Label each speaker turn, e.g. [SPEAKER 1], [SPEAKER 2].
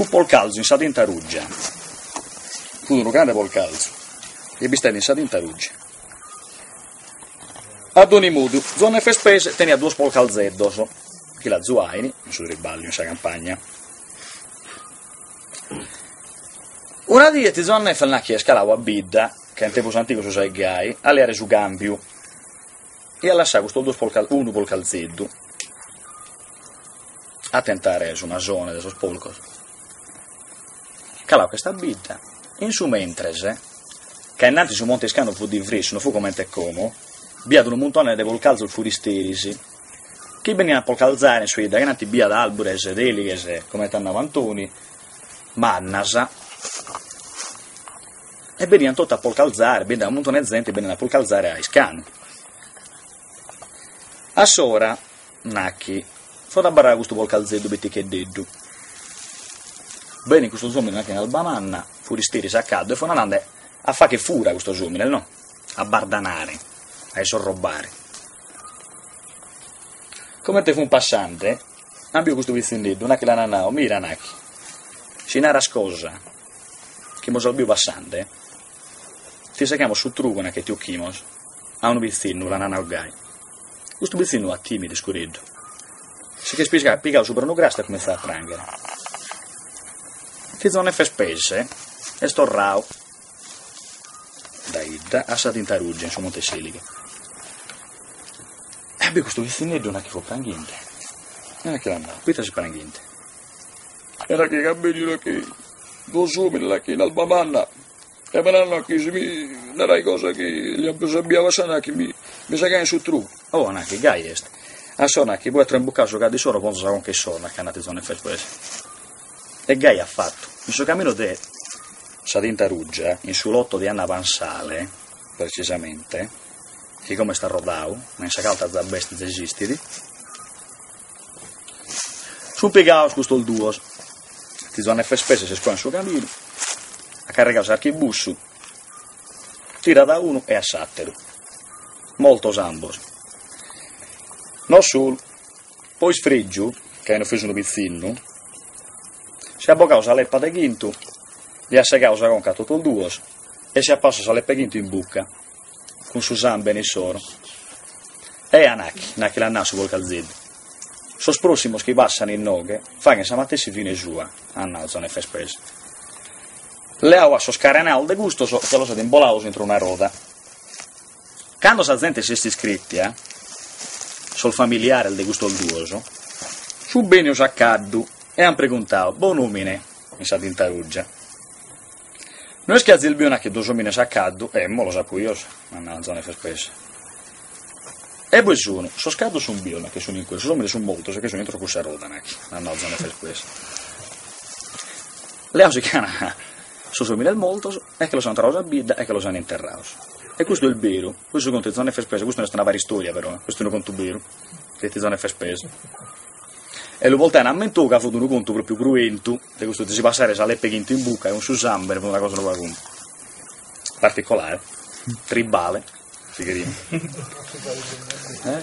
[SPEAKER 1] Fut Polcalzu in sa tinta ruggia. Fut unu grande Polcalzu. Est bistende in sa tinta ruggia. A doni modu, Zuanne Fespes teniat duos Polcalzeddos, chi l'azuain, in su triballiu, in sa campagna. Una die tiu Zuanne nachi est calau a bidda, ca in tempus antigos si usaiat gai, a leare su cambiu, e at lassau custos duos unu Polcalzeddu, a tentare su masone de sos polcos, caladu ch'est a bidda, in su mentres, ca innantis su monte 'e Iscanu fut divrissu, no fut comente e como, b'iat unu muntone de polcalzos furisteris, chi benian a polcalzare in sa 'idda, ca innanti b'iat arbures de elighes, comente at nadu Antoni, mannas, e benian totu a polcalzare, beniat unu muntone 'e zente benian a polcalzare a Iscanu. A s'ora nachi, fut abarradu custu porcalzeddu piticheddeddu. Benit custos omines nachi in alba manna, furisteris a caddu, e fut andende a fagher fura custos omines, no? A bardanare, a isrobbare. Comente fun passende, an biu custu pitzinneddu, nachi l'ana nau, mira nachi, si naras cosa chi mos as biu passende, ti segamos su trugu nachi e ti 'occhimos, a unu pitzinnu l'ana nau gai. Custu pitzinnu at timidu iscureddu. Si ch'est pesadu, pigadu subra unu crastu, at cumintzadu a pranghere. Tiu Zuanne Fespes est torradu dae idda a sa Tinta Rugia in su Monte 'e s'Elighe. E at biu custu pitzinneddu nachi fut pranghende, nachi l'at nadu, Poite ses pranghende. E nachi ca benit nachi, duos omines, nachi in alba manna, E m'an nau nachi si mi naraia cosa chi los apo biu a s'ora nachi mi mi segain su trugu. Oh, nachi gai est? A s'ora nachi poita trambucau su caddu issoro ponzo sa conca issoro, nachi at nau tiu Zuanne Fespes. E gai at fatu. In su caminu de sa Tinta Rugia, in su loto de Anna Pansale, precisamente, chi como est arrodau, ma in sa calta za b'est, esistit, Sunt pigados custos duos, tiu Zuanne Fespes si cuat in su caminu, at carrigadu s'archibussu, tirat a unu e a s'àteru, mortos ambos. No solu, po isfrègiu, ca aian ofesu unu pitzinnu, si at bogadu sa lepa de chintu, li at segadu sa conca a totos duos e si at passadu sa lepa 'e chintu in buca. cun su sàmbene issoro. E anachi l'at nau su porcalzeddu, sos pròssimos chi passant inoghe faghent sa matessi fine sua, at nau Zone Fespes. Leadu at sas carenas de custos e los at imbolados intro una roda. Cando sa zente s'est iscrètia, sos familiares de custos duos, sunt bènidos a caddu e ant preguntadu, Bonòmine, in sa tinta ruggia. No est chi azis biu nachi duos òmines a caddu, emmo, los apo bios, at nau Zone Fespes. E ue sunu, sos caddos sun bios, nachi, sun in cue, sos òmines sun mortos e che sun intro cussa roda, nachi, at nau Zone Fespes, leaus che ana sos òmines mortos e che los an torrados a bidda e che los an interrados. E custu est beru, cussu contu 'e Zone Fespes, custu no est una paristòria però, custu est unu contu beru, de tiu Zone Fespes. e lu portaian a mentovu ca fut unu contu propriu cruentu de custu de si passare sa lepa 'e chintu in bucca cun su sambere fut una cosa unu pagu particolare tribale si cherimus eh